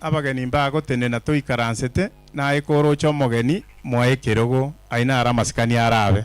Abageni mbagotenena toikaransete, naye koroche omogeni moa ekerogo, ayio naro amasikani arabe.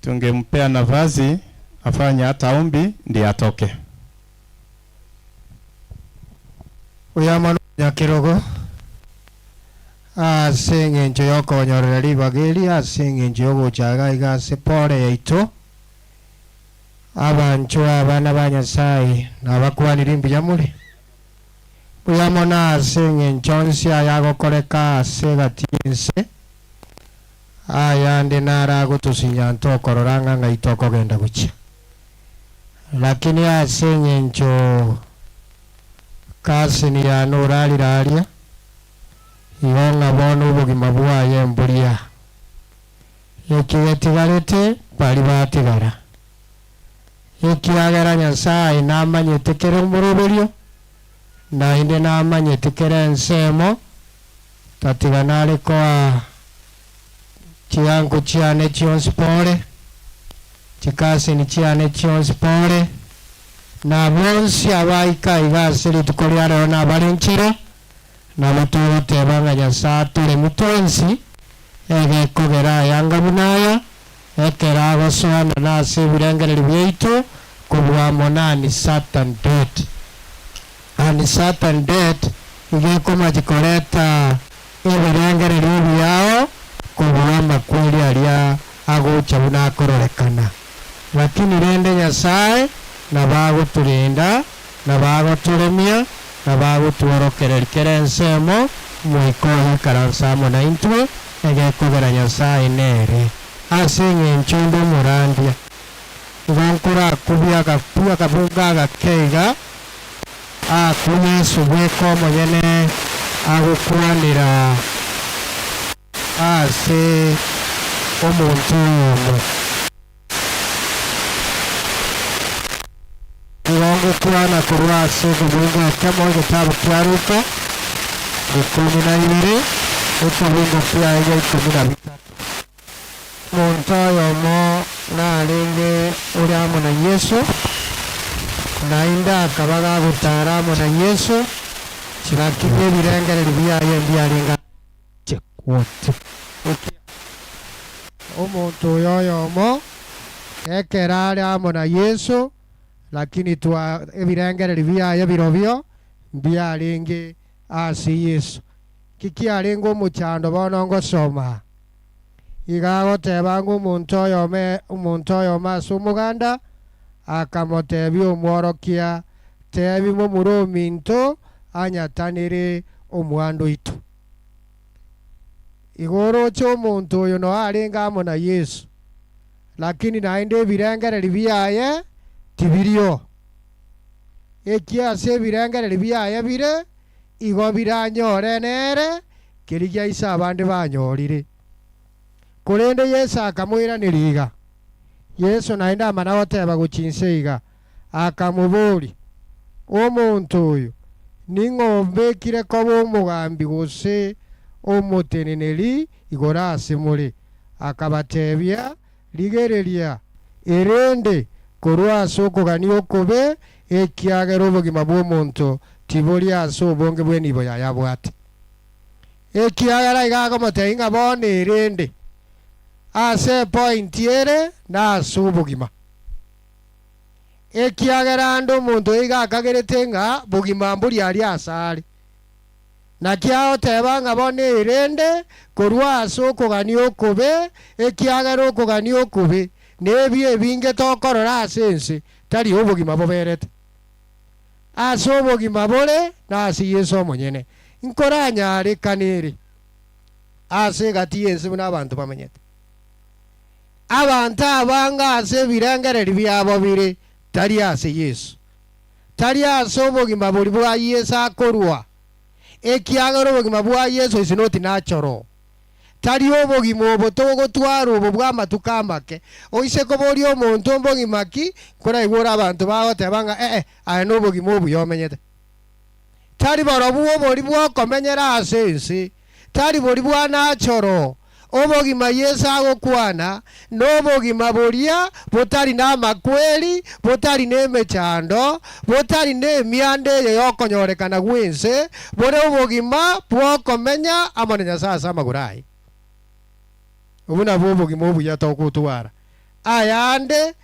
tungempea nafasi afanye ata ombi ndi atoke. Oyomwene omonyakerogo, ase engencho y'okonyorera ribaga eri, ase engencho y'ogocha iga iga ase pole yaito, abanchwa abana ba Nyasae nabakwanire mbuya more. Mbuya mono ase engencho onsi ayagokoreka ase egati y'ense. ayande naragotosinyaa tokorora ng'a ng'ai tokogenda gochia. Lakini ase engencho Kasin yane orarire aria, igo ng'a bono obogima bwaye mbori aa. Eki getigarete baria batigara, ekiagera Nyasae namanyete kera omoroberio. Naende namanyeti kera ensemo, tatiga nare koa chianku chiane chionsi pore, chikasini chiane chionsi pore, na bonsi abaika iga ase rituko ria rero nabarenchire, nabo togoteba ng'a Nyasae atoremi twensi, egekogera ayanga buna aya, Ekero agosoana nase ebirengererio biaito kobua amo na Uncertain Date. Uncertain Date iga ekomachi koreta ebirengererio biao kobua amakweri aria agocha buna akororekana. Lakini rende Nyasae nabo agotorenda na bagotoremia, na bagotworokereria kera ensemo, Omoika ogoikaransa amo naintwe, egekogera Nyasae nere. Ase engencho ende omorandia, nigo nkorakubie agakwi akabunga agake iga, aakwe Yesu bweka omonyene agokwanera aase omonto oyomo. Nigo ngokwana korwa ase ekebungo ekemo egetabu kia Luka, ikomi na ibere, ekebungo kiaye ikomi na bitato. Omonto oyomo narenge ore amo na Yeso, naende akaba gagotara amo na Yeso chingaki bw'ebirengererio biaye mbiarenge amo naye. Inche gocha gokia omonto oyo oyomo, ekero are amo na Yeso, lakini twa ebirengererio biaye birobio mbiarenge ase Yeso. Ki kiarenge omochando bono ngosoma aa? Iga agoteba ng'a omonto oyomo omonto oyomo ase omoganda akamotebia omworokia, Tebi momura ominto anyatanere omwando oito. Igo oroche omonto oyo noe arenge amo na Yeso, lakini naende ebirengererio biaye tibirio. Ekiagera ase ebirengererio biaye bire, igo biranyore nere kerigia ase abande banyorire. Korende Yeso akamoiraneria iga. Yeso naende amana goteba gochia inse iga, akamobooria, Omonto oyo ning'o ombekire koba omogambi gose omoteneneri igoro ase more? Akabateebia, Rigereria, erende korwa ase okogania okobe, ekiagera obogima bw'omonto tibori ase obonge bw'enibo yaye abwate. Ekiagera iga agomoteebia ng'a bono erende ase epointi ere nase obogima. ekiagera ande omonto oiga akagerete ng'a bogima mbori aria asare. Naki agoteba ng'a bono eirende korwa ase okogania okobe, ekiagera okogania okobe nebio ebinge tokorora ase ense, tari obogima boberete. Ase obogima bore nase Yeso omonyene, nkoranyarekane ere ase egati y'ense buna abanto bamenyete. Abanto abange ase ebirengererio biabo bire tari ase Yeso, tari ase obogima boria bwa Yeso akorua, ekiagera obogima bwa Yeso is not natural. Tari obogima obo togotwara obo bw'amatuko amake, oise koboria omonto mbogima ki, nkoraigwera abanto bagoteba ng'a ee aye nobogima obuya omenyete. tari borobwo obori bw'okomenyera ase ense, tari bori bwa nachoro, obogima Yeso agokwana nobogima boria botari namakweri, botari nemechando, botari nemianda eye yokonyorekana gw'ense, bore obogima bw'okomenya amo na Nyasae ase amagoro aye. Obwo nabwo obogima obuya togotwara. Ayande,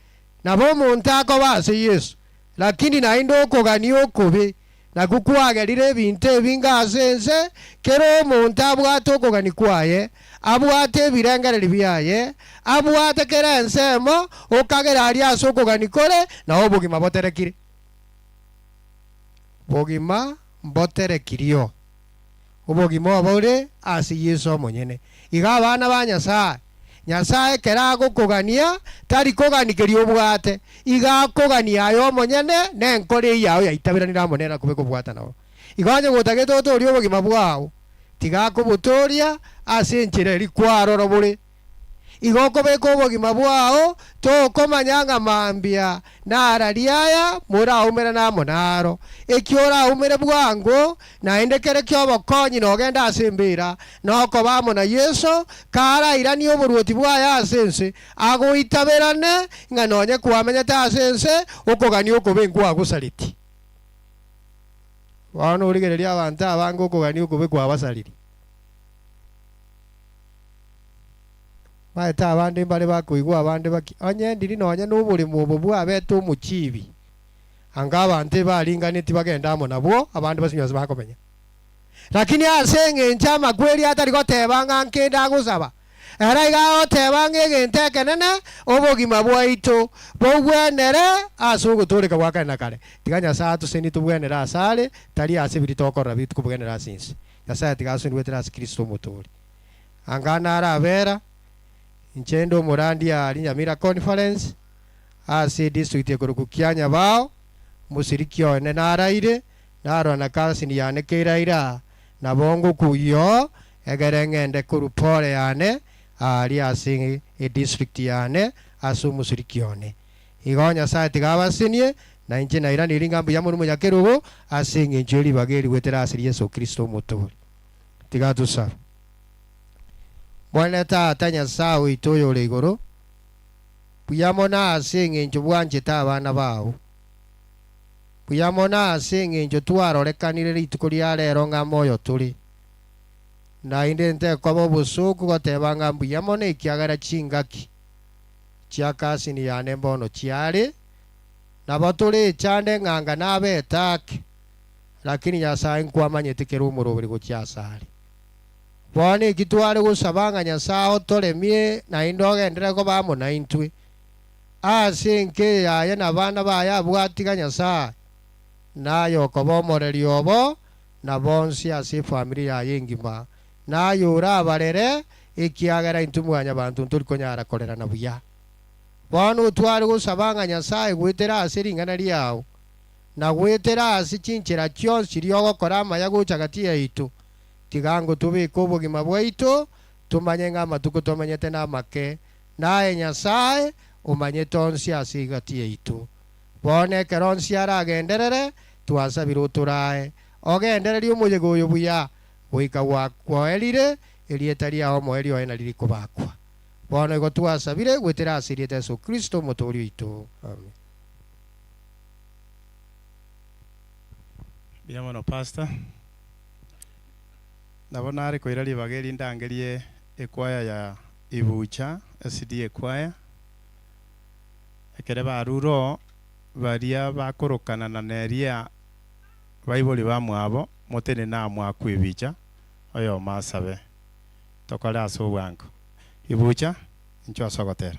nabo omonto akoba ase Yeso, Lakini naende okogania okobe nakwo kwagerire ebinto ebinge ase ense, kera omonto abwate okogania kwaye, abwate ebirengererio biaye, abwate kera ensemo, okagera aria ase okogania kore na obogima boterekire. Bogima mboterekirio. Obogima obo bore ase Yeso omonyene. Iga abana ba Nyasae, Nyasae ekero agokogania, tari kogani keria obwate, iga akoganie aye omonyene na enkoro eye yao yaitaberanire amo nere akobe kobwata nao. Iga onye gotagete otoorie obogima bwao, tiga akobotooria ase enchera eria kwarora bore. Igo okobeka obogima bwao, tokomanya ng'a mambia narari aya moraumere namo naro. Ekio oraumere bwango, naende kere ki'obokonyi nogende ase embeera, nokoba amo na Yeso, karairanie oboruoti bwaye ase ense, agoitaberane ng'a nonye kwamenyete ase ense, okogania okobe nkwagosareti. Bono origererie abanto abange okogania okobe kwabasariri. Baete abande mbare bakoigwa abande baki, onye endiri nonya noboremu obo bwabete omochibi, anga abanto ebaringaneti bagende amo nabwo, abande basinye onsi bakomenya. Lakini ase engencho amakweri atari goteba ng'a nkende agosaba, ere iga agoteba ng'a egento ekenene, obogima bwaito bogwenere ase ogotooreka gwa kare na kare. Tiga Nyasae atosenie tobwenere asare, tari ase biri tokorora bituko bwenere ase ense. Nyasae tiga asoni goetera ase Kristo Omotoori. Anga nare abera, inche inde omorandia aa Rinyamira Conference ase edistrict ekorokwa Kianyabao, mosiriki one naraire, narora na cousin yane keiraira aa, nabo ngokwa oyoo, egere ngende korwa pole yane aaria ase edistrict yane ase omosiriki one. Igo Nyasae tiga abasenie, na inche nairanerie ng'a mbuya morumo nyakerogo, ase engencho ye ribaga eri goetera ase Yeso Kristo Omotooria. tiga tosabe. Mwane Tata Nyasae oito oyore igoro, mbuya mono ase engencho bwanchete abana bao. Mbuya mono ase engencho twarorekanire rituko ria rero ng'a moyo tore. Naende ntekoba obosooku goteba ng'a mbuya mono ekiagera chingaki chia cousin yane mbono chiare, nabo tore echanda eng'anga na abetake. Lakini Nyasae nkwamanyete kera omoroberi gochia asare. Bono eki tware gosaba ng'a Nyasae otoremie naende ogenderere koba amo naintwe, aase enke eye aye nabana baye abwo atiga Nyasae, naye okoba omoreri obo na bonsi ase efamiri yaye engima, naye orabarere, ekiagera intwe mwanyabanto ntori konyara korerana buya. Bono tware gosaba ng'a Nyasae goetera aase ring'ana riao. na goetera ase chinchera chionsi chiria ogokora amaya gocha gati yaito, tiga ngotobeke obogima bwaito, tomanye ng'a amatuko tomenyete namake, na aye Nyasae omanyete onsi ase egati yaito. Bono ekero onsi aragenderere, twasabire otorae, ogendererie omoyega oyo buya, goika gwakwoerire, erieta riao omoerio oye nari rikobakwa. Bono igo twasabire goetera ase erieta Yeso Kristo, Omotooria oito. Amen. Mbuya mono pastor. Nabo nare koira ribaga eri ndangerie ekwaya ya Ibucha SDA ekwaya. Ekere barure oo baria bakorokana na neria baibori bamwabo motenene aa mwaku Ibicha oyomo asabe tokore ase obwango. Ibucha inchwe ase ogotera.